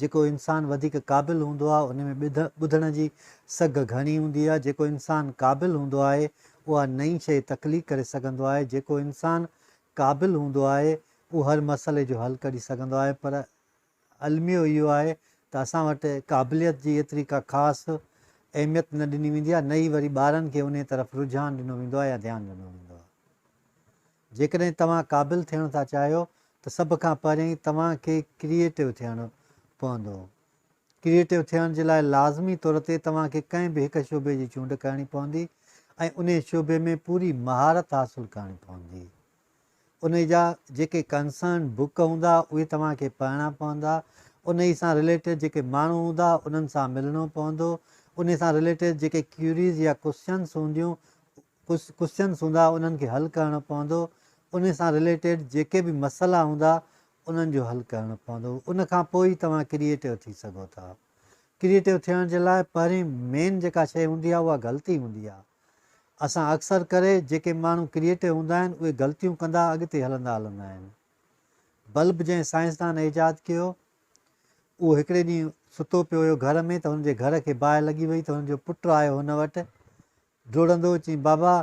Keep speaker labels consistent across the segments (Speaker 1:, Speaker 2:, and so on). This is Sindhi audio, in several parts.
Speaker 1: جيڪو انسان وڌيڪ قابل هوندو آهي ان ۾ ٻڌ، ٻڌڻ، جي سگهه گهڻي هوندي آهي. جيڪو انسان قابل هوندو آهي اها نئين شيء تخليق ڪري سگهندو آهي. جيڪو انسان قابل هوندو آهي اهو هر مسئلي جو حل ڪڍي سگهندو آهي پر الميو اهو آهي ته اسان وٽ قابليت جي ايتري ڪا خاص اهميت نه ڏني ويندي آهي نه ئي وري ٻارن کي انهيء طرف رجحان ڏنو ويندو آهي يا ڌيان ڏنو ويندو آهي. جيڪڏهن توهان قابل ٿيڻ ٿا چاهيو ته سڀ کان پهرين توهان کي ڪريئيٽو ٿيڻ پوندو. ڪريئيٽو ٿيڻ جي لاء لازمي طور تي توهان کي ڪنهن به هڪ شعبي جي چونڊ ڪرڻي پوندي ۽ انهي شعبي ۾ پوري مهارت حاصل ڪرڻي پوندي. انهي جا جيڪي ڪنسرن بوڪ هوندا اهي توهان کي پڙهڻا پوندا. انهي سان رليٽيڊ جيڪي ماڻهو هوندا انهن سان ملڻو پوندو. انهي سان رليٽيڊ جيڪي ڪيوريز يا ڪوسچنس هونديون اهي ڪجهه ڪوسچنس هوندا انهن کي حل ڪرڻو پوندو انهي سان رليٽيڊ جيڪي به مسئلا هوندا انهن جو حل ڪرڻو پوندو ان کان پوء ئي توهان ڪريئيٽو ٿي سگهو ٿا ڪريئيٽو ٿيڻ جي لاء پهرين مين جيڪا شيء هوندي آهي اها غلطي هوندي آهي اسان اڪثر ڪري جيڪي ماڻهو ڪريئيٽو هوندا آهن اهي غلطيون ڪندا اڳتي هلندا هلندا آهن بلب جنهن سائنسدان ايجاد ڪيو اهو هڪڙي ڏينهن ستو پيو هيو گهر ۾ ته هن جي گهر کي باهه لڳي وئي ته هن جو پٽ آيو هن وٽ ڊوڙندو چيائين بابا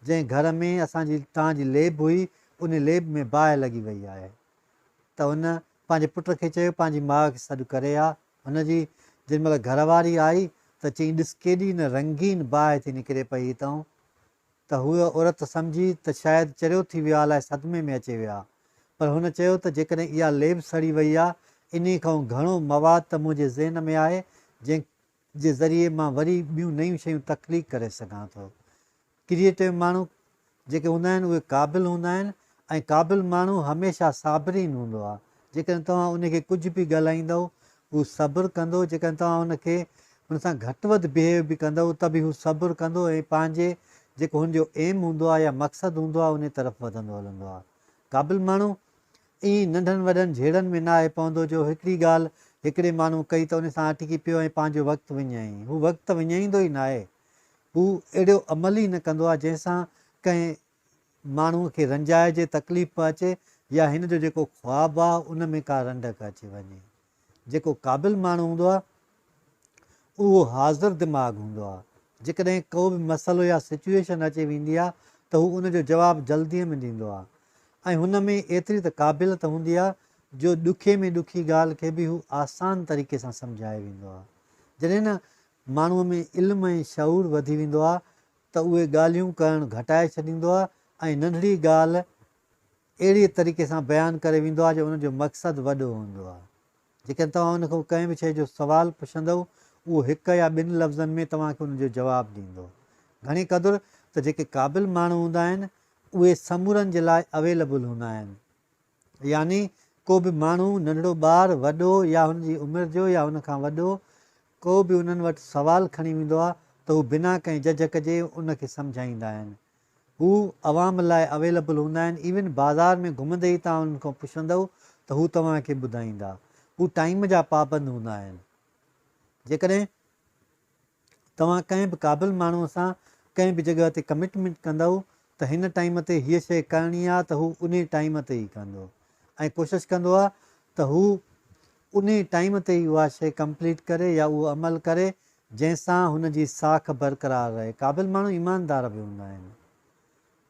Speaker 1: جنهن گهر ۾ اسان جي توهان جي ليب هئي ان ليب ۾ باهه لڳي وئي آهي ته هن پنهنجي پٽ کي چيو پنهنجي ماء کي سڏ ڪري آ هن جي جن مهل گهر واري آئي ته چيائين ڏس ڪيڏي نه رنگين باهه ٿي نڪري پئي هتئون ته هوء عورت سمجهي ته شايد چريو ٿي ويو آ الاء صدمي ۾ اچي ويو آ پر هن چيو ته جيڪڏهن اها ليب سڙي وئي آ انهي کانئون گهڻو مواد ته منهنجي ذهن ۾ آهي جنهن جي ذريعي مان وري ٻيون نيون شيون تخليق ڪري سگهان ٿو. ڪريئيٽو ماڻهو جيڪي هوندا آهن اهي قابل هوندا آهن ۽ قابل ماڻهو هميشه صابرين هوندو آهي جيڪڏهن توهان ان کي ڪجهه به ڳالهائيندؤ هو صبر ڪندو جيڪڏهن توهان ان کي ان سان گهٽ وڌ بهيو به ڪندؤ ته به هو صبر ڪندو ۽ پنهنجي جيڪو هن جو ايم هوندو آهي يا مقصد هوندو آهي انهي طرف وڌندو هلندو آهي قابل ماڻهو ائين ننڍن وڏن جهيڙن ۾ نه آهي پوندو جو هڪڙي ڳالهه هڪڙي ماڻهو ڪئي ته ان سان اٽڪي پيو ۽ پنهنجو وقت وڃائين. هو وقت ته وڃائيندو ئي ناهي. هو اهڙو عمل ئي نه ڪندو آهي جنهن سان ڪنهن ماڻهو کي رنجائجي، تڪليف به اچي يا هن جو جيڪو خواب آهي ان ۾ ڪا رنڊڪ اچي وڃي. جيڪو قابل ماڻهو هوندو آهي اهو حاضر دماغ هوندو آهي، جيڪڏهن ڪو به مسئلو يا سچوئيشن اچي ويندي آهي ته هو ان جو جواب جلديء ۾ ڏيندو آهي ۽ هن ۾ ايتري ته قابليت هوندي آهي جو ڏکي ۾ ڏکي ڳالهه کي به هو آسان طريقي سان سمجهائي ويندو آهي. جڏهن نه ماڻهوء ۾ علم ۽ شعور وڌي ويندو آهي ته اهي ڳالهيون ڪرڻ گهٽائي ڇڏيندو آهي ۽ ننڍڙي ڳالهه اهڙيء طريقي سان بيان ڪري ويندو آهي جو ان جو مقصد وڏو هوندو آهي. جيڪڏهن توهان ان کان ڪنهن به شيء جو سوال پڇندؤ، اهو هڪ يا ٻن لفظن ۾ توهان کي ان جو جواب ڏيندو. گهڻي قدر ته جيڪي قابل ماڻهو هوندا آهن، اهي سمورن جي لاء اويليبل هوندا آهن. يعني ڪو به ماڻهو، ننڍڙو ٻار، وڏو يا هن جي عمر جو يا ان کان وڏو، ڪو به انهن وٽ سوال کڻي ويندو آهي ته هو بنا ڪنهن جهجڪ جي ان کي سمجهائيندا آهن هو عوام لاء اويلبل هوندا آهن ايون بازار ۾ گهمندي ئي توهان انهن کان پڇندؤ ته هو توهان کي ٻڌائيندا. هو ٽائيم جا پابند هوندا آهن. جيڪڏهن توهان ڪنهن به قابل ماڻهو سان ڪنهن به جڳهه تي ڪمٽمينٽ ڪندؤ ته هن ٽائيم تي هيء شيء ڪرڻي آهي ته هو انهي ٽائيم تي ئي ڪندو ۽ ڪوشش ڪندو آهي ته هو انهي ٽائيم تي ئي اها شيء ڪمپليٽ ڪري يا اهو عمل ڪري جنهن سان هن جي ساک برقرار رهي. قابل ماڻهو ايماندار به هوندا آهن،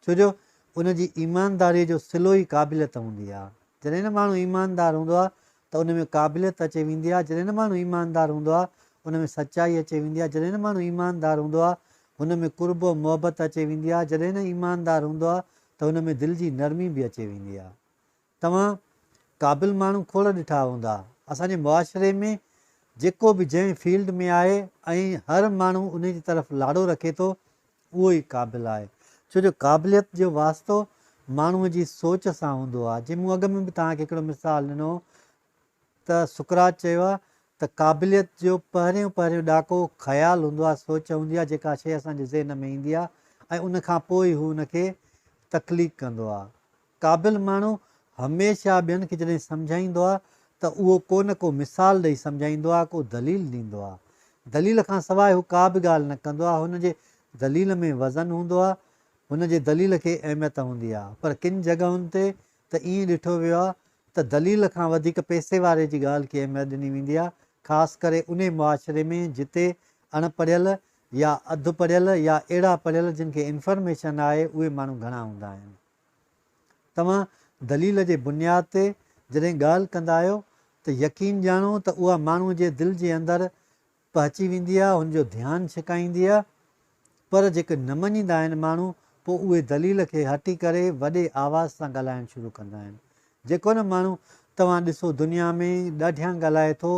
Speaker 1: ڇو جو ان جي ايمانداريء جو صلو ئي قابليت هوندي آهي. جڏهن نه ماڻهو ايماندار هوندو آهي ته ان ۾ قابليت اچي ويندي آهي، جڏهن نه ماڻهو ايماندار هوندو آهي ان ۾ سچائي اچي ويندي آهي، جڏهن نه ماڻهو ايماندار هوندو آهي هن ۾ قرب و محبت اچي ويندي آهي، جڏهن نه ايماندار هوندو آهي ته هن ۾ دل جي نرمي به اچي ويندي آهي. توهان قابل ماڻهو کوڙ ڏٺا هوندا. اسان جي معاشري ۾ جيڪو به جنهن فيلڊ ۾ آهي ۽ هر ماڻهو ان جي طرف لاڙو رکي ٿو اهو ئي قابل آهي. ڇو جو قابليت جو واسطو ماڻهوء جي سوچ سان هوندو آهي. جي مون اڳ ۾ به توهان کي هڪڙو مثال ڏنو هو ته سقراط چيو آهي ته قابليت جو پهريون پهريون ڏاڪو خيال هوندو آهي، سوچ هوندي آهي، جيڪا شيء اسان جي ذهن ۾ ايندي آهي ۽ ان کان پوء ئي هو ان کي تخليق ڪندو آهي. قابل ماڻهو هميشه ٻين کي جڏهن سمجهائيندو آهي ته اهو ڪو نه ڪو مثال ڏئي سمجهائيندو آهي، ڪو دليل ڏيندو آهي. دليل کان سواء هو ڪا به ڳالهه نه ڪندو آهي، هن جي دليل ۾ وزن هوندو آهي، هن جي دليل کي اهميت هوندي آهي، پر ڪن جڳهن تي ته ائين ڏٺو ويو آهي ته دليل کان وڌيڪ پئسي واري جي ڳالهه کي اهميت ڏني ويندي آهي، خاص ڪري انهي معاشري ۾ جتي اڻ پڙهيل يا اڌ پڙهيل يا اهڙا پڙهيل جن کي انفرميشن آهي اهي ماڻهو گهڻا هوندا آهن. توهان دليل جي بنياد تي جڏهن ڳالهه ڪندا آهيو ته يقين ڄاڻو ته اها ماڻهو جي دل جي اندر پهچي ويندي آ، هن جو ڌيان ڇڪائيندي آ، پر جيڪي نه مڃيندا آهن ماڻهو پوء اهي دليل کي هٽي ڪري وڏي آواز سان ڳالهائڻ شروع ڪندا آهن. جيڪو نه ماڻهو توهان ڏسو دنيا ۾ ڏاڍيان ڳالهائي ٿو،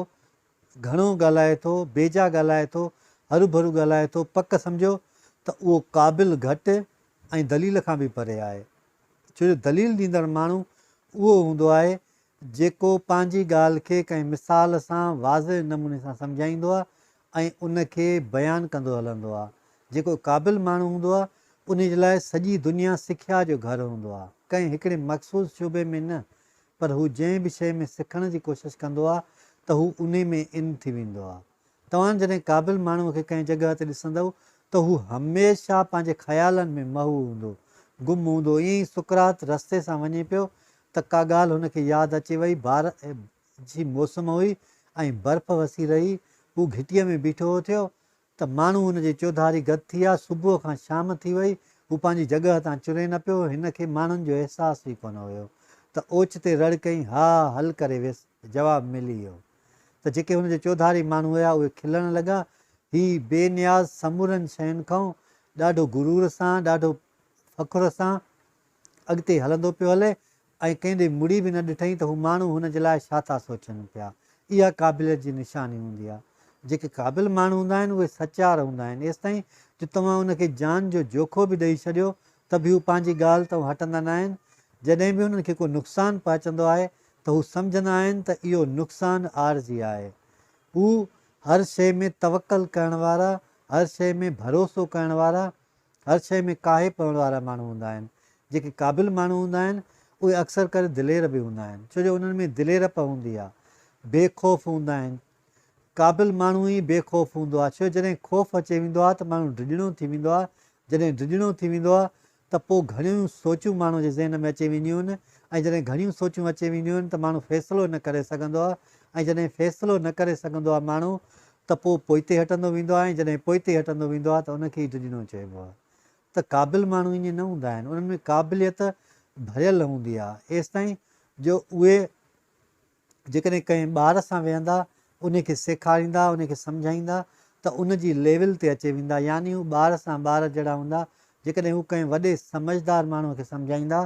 Speaker 1: گهڻو ڳالهائي ٿو، بيجا ڳالهائي ٿو، هروڀرو ڳالهائي ٿو پڪ سمجهو ته اهو قابل گهٽ ۽ دليل کان به پري آهي. ڇو جو دليل ڏيندڙ ماڻهو اهو هوندو آهي جيڪو پنهنجي ڳالهه کي ڪنهن مثال سان واضح نموني سان سمجهائيندو آهي ۽ ان کي بيان ڪندو هلندو آهي. جيڪو قابل ماڻهو هوندو آهي، انهي جي لاء سڄي دنيا سکيا جو گهر هوندو آهي، ڪنهن هڪڙي مخصوص شعبي ۾ نه، پر هو جنهن به شيء ۾ سکڻ جي ڪوشش ڪندو آهي ته هو انهي ۾ ان ٿي ويندو آهي. توهان جڏهن قابل ماڻهوء کي ڪنهن جڳهه تي ڏسندؤ ته هو هميشه پنهنجي خيالن ۾ محو هوندو، گم هوندو. ائين ئي سقراط رستي سان وڃي پيو ته ڪا ڳالهه هن کي ياد اچي وئي. بارهه جي موسم هئي ۽ برف وسي رهي. هو گهٽيء ۾ بيٺو هو ٿيو ته ماڻهو هن جي چوڌاري گڏ ٿي ويا. صبح کان شام ٿي وئي، هو پنهنجي جڳهه تان چري نه پيو. هن کي ماڻهن جو احساس ئي ڪونه هيو ته اوچتي رڙ ڪئين، ها، حل ڪري ويس. جواب ملي ويو ته جيڪي هن جي چوڌاري ماڻهو هيا اهي کلڻ لڳا. هي بي نياز سمورن شين کان ڏاڍو غرور سان، ڏاڍو فخر سان اڳتي هلندو پيو هلي ۽ ڪنهن ڏي مڙي به نه ڏٺئين ته هو ماڻهو هن جي لاء ڇا ٿا سوچن پيا. اها قابليت جي نشاني هوندي آهي. جيڪي قابل ماڻهو هوندا آهن اهي سچار هوندا آهن ايستائين جو توهان ان کي جان جو جوکو به ڏئي ڇڏيو ته به هو پنهنجي ڳالهه تان هٽندا ناهن جڏهن به هنن کي ڪو نقصان پهچندو آهي ته هو سمجهندا آهن ته اهو نقصان عارضي آهي. هو هر شيء ۾ توڪل ڪرڻ وارا، هر شيء ۾ ڀروسو ڪرڻ وارا، هر شيء ۾ ڪاهي پوڻ وارا ماڻهو هوندا آهن. جيڪي قابل ماڻهو هوندا آهن، اهي اڪثر ڪري دلير به هوندا آهن، ڇو جو انهن ۾ دليرپ هوندي آهي. بي خوف هوندا آهن. قابل ماڻهو ئي بي خوف هوندو آهي، ڇو جو جڏهن خوف اچي ويندو آهي ته ماڻهو ڊڄڻو ٿي ويندو آهي، جڏهن ڊڄڻو ٿي ويندو آهي ته پوء گهڻيون سوچون ماڻهو جي ذهن ۾ اچي وينديون آهن ۽ جڏهن گهڻيون سوچون اچي وينديون آهن ته ماڻهو فيصلو نه ڪري سگهندو آهي ۽ جڏهن فيصلو نه ڪري سگهندو آهي ماڻهو ته پوء پوئتي هٽندو ويندو آهي ۽ جڏهن پوئتي هٽندو ويندو آهي ته ان کي ئي ڊڄڻو چئبو آهي ته قابل ماڻهو ائين نه هوندا آهن انهن ۾ قابليت ڀريل هوندي آهي ايستائين جو اهي جيڪڏهن ڪنهن ٻار سان ويهندا، انهي کي سيکاريندا، انهي کي سمجهائيندا ته ان جي ليول تي اچي ويندا، يعني هو ٻار سان ٻار جهڙا هوندا، جيڪڏهن هو ڪنهن وڏي سمجهدار ماڻهوء کي سمجهائيندا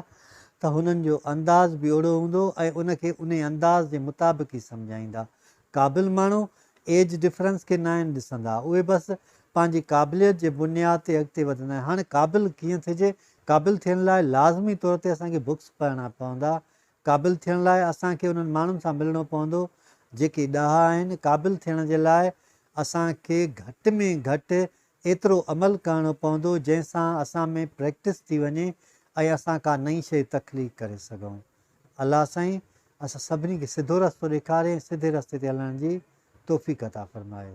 Speaker 1: ته هنن جو انداز به اهڙو هوندو ۽ ان کي انهي انداز جي مطابق ئي سمجهائيندا. قابل ماڻهو ايج ڊفرنس کي ناهن ڏسندا، اهي بس پنهنجي قابليت جي بنياد تي اڳتي وڌندا آهن. هاڻي قابل ڪيئن ٿجي؟ قابل ٿيڻ لاء لازمي طور تي اسان کي بڪس پڙهڻا پوندا، قابل ٿيڻ لاء اسان کي انهن ماڻهن سان ملڻو پوندو جيڪي ڏاها آهن. قابل ٿيڻ جي لاء اسان کي گهٽ ۾ گهٽ ايترو عمل ڪرڻو پوندو جنهن سان اسان ۾ پريڪٽس ٿي وڃي ۽ اسان ڪا نئين شيء تخليق ڪري سگهون. الله سائين اسان سڀني کي سڌو رستو ڏيکاري ۽ سڌي رستي تي هلڻ جي توفيق عطا فرمائي.